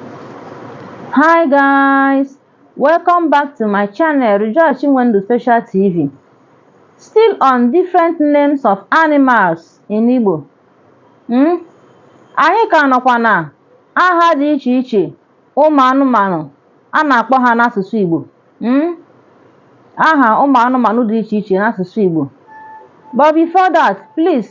Hi guys, welcome back to my channel Rejoice Chinwendu Special TV. Still on different names of animals in Igbo. Hmm? Anyị ka nọkwa na aha dị iche iche ụmụ anụmanụ a na-akpọ ha n'asụsụ Igbo. Hmm? Aha ụmụ anụmanụ dị iche iche n'asụsụ Igbo. But before that, please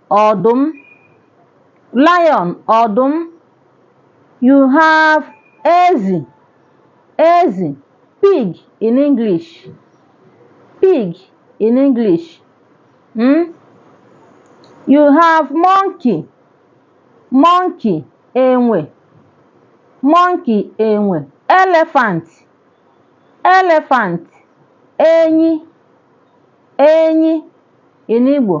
ọdụm lion ọdụm you have ezi ezi pig in English pig in English hmm? you have monkey monkey enwe monkey enwe elephant elephant enyi enyi in Igbo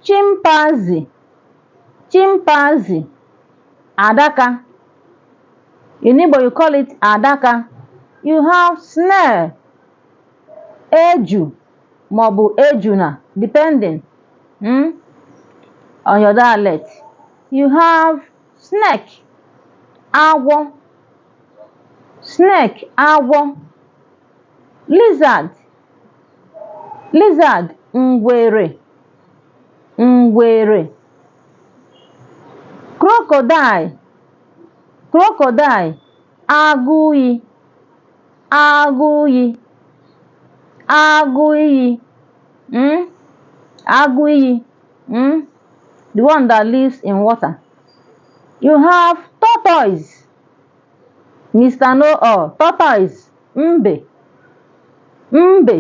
chimpanzee chimpanzee adaka in Igbo you call it adaka you have snail eju maọbụ ejuna depending hmm, on your dialect you have snake agwọ snake agwọ lizard lizard ngwere ngwere crocodile crocodile agụ iyi agụ iyi agụ iyi mm? agụ iyi mm? the one that lives in water you have tortoise mr no-all tortoise Mbe Mbe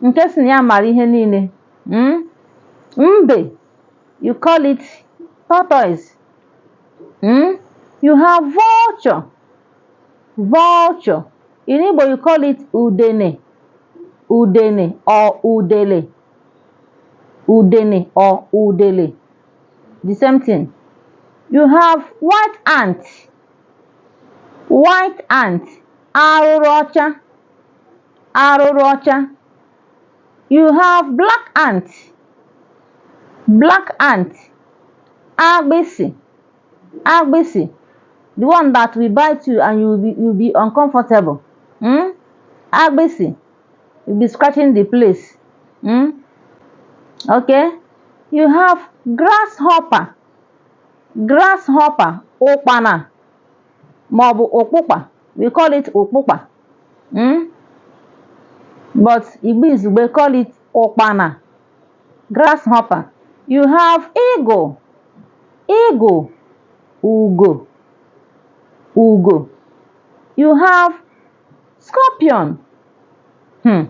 nke sị na ya mara ihe niile mm? Mbe you call it tortoise mm? You have vulture vulture in Igbo you call it udene udene or udele udene or udele the same thing you have white ant white ant arụrụ ọcha arụrụ ọcha you have black ant black ant agbịsị agbịsị the one that will bite you and you will be, you will be uncomfortable hmm? agbịsị you be scratching the place hmm? okay you have grasshopper grasshopper ụkpana maọbụ ụkpụkpa we call it ụkpụkpa mm? but Igbo Izugbe call it ụkpana grasshopper you have eagle eagle ugo ugo you have scorpion hmm.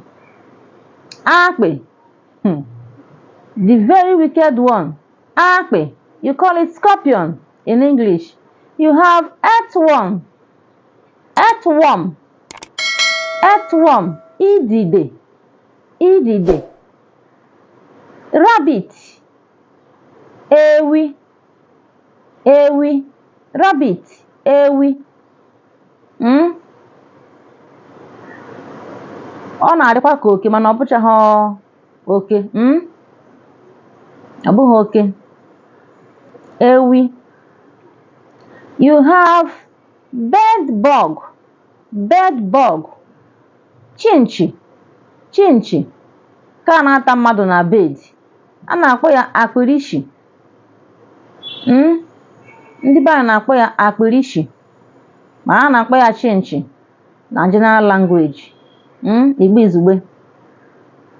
akpị hmm. the very wicked one Akpị, you call it scorpion in English. You have earthworm. Earthworm. Earthworm. Idide. Idide. Rabbit. Ewi. Ewi. Rabbit. Ewi. Mm? Ọ na-adịkwa ka oke mana ọ bụchaghị oke mm? ọ bụghị oke ewi you have bed bug bed bug chinchi chinchi nke a na-ata mmadụ na bed a na-akpọ ya akpịrị ishi mm? ndị be anyị na-akpọ ya akpịrị ishi ma a na-akpọ ya chinchi na general language mm, Igbo Izugbe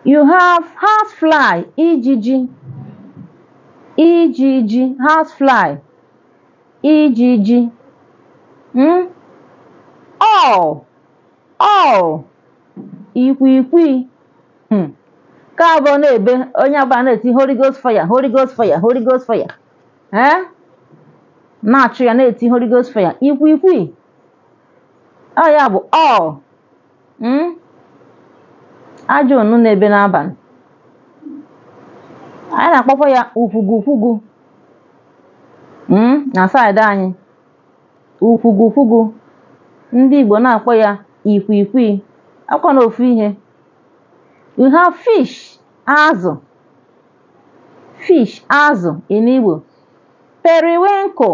you have house fly ijiji ijiji house fly ijiji mm? owl owl ikwikwii hmm. nke a bụ ọ na-ebe onye ọbụla na-eti holy ghost fire holy ghost fire holy ghost fire ee eh? na-achụ ya na-eti holy ghost fire ikwikwii ọ ya bụ owl mm? ajọ nnụnụ na-ebe n'abalị anyị na-akpọkwa ya ukwugu ukwugu mm? na saịdị anyị ukwugu ukwugu ndị Igbo na-akpọ ya ikwikwii ọ kwanụ ofu ihe we have fish azụ fish azụ in Igbo periwinkle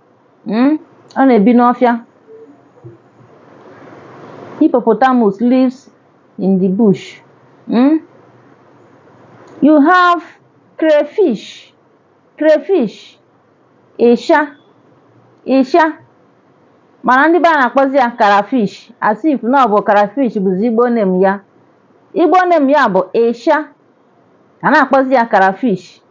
Mm? Ọ na-ebi n'ọfịa. Hippopotamus lives in the bush. Mm? You have crayfish. Crayfish. Ịsha. Ịsha. Mana ndị ebe a na-akpọzi ya karafish as if na ọ bụ karafish bụzi Igbo name ya. Igbo name ya bụ ịsha. A na-akpọzi ya karafish.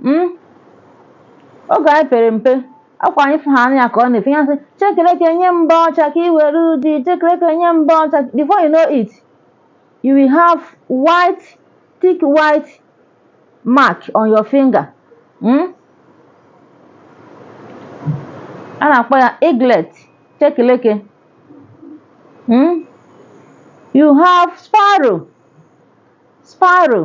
Mm? oge anyị pere mpe ọkwa anyị fụha anya ka ọ na-efe ya sị chekeleke nye m mbọ ọcha ka i were ojii chekeleke nye m mbọ ọcha before you know it you will have white thick white mark on your finger mm? a na-akpọ ya egret chekeleke mm? you have sparrow sparrow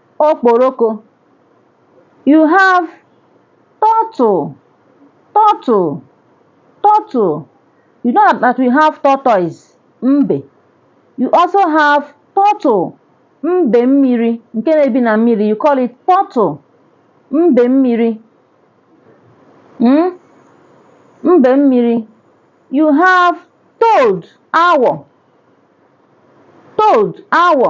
okporoko you have turtle turtle turtle you know that we have tortoise mbe you also have turtle mbe mmiri nke na-ebi na mmiri you call it turtle mbe mmiri mm? mbe mmiri you have toad awọ toad awọ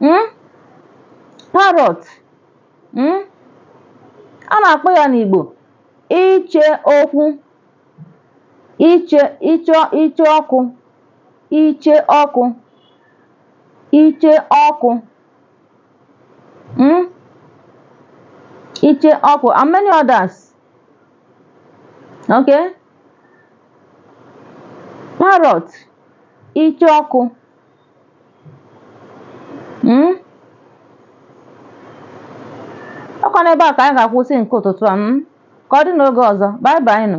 hmm? parrot hmm? a na-akpọ ya n'Igbo iche okwu iche iche icheoku icheoku icheoku hmm? icheoku and many others okay parrot icheoku mm? ọkwa n'ebe a ka anyị ga-akwụsị nke ụtụtụ a mm? ka ọ dị n'oge ọzọ bye bye nụ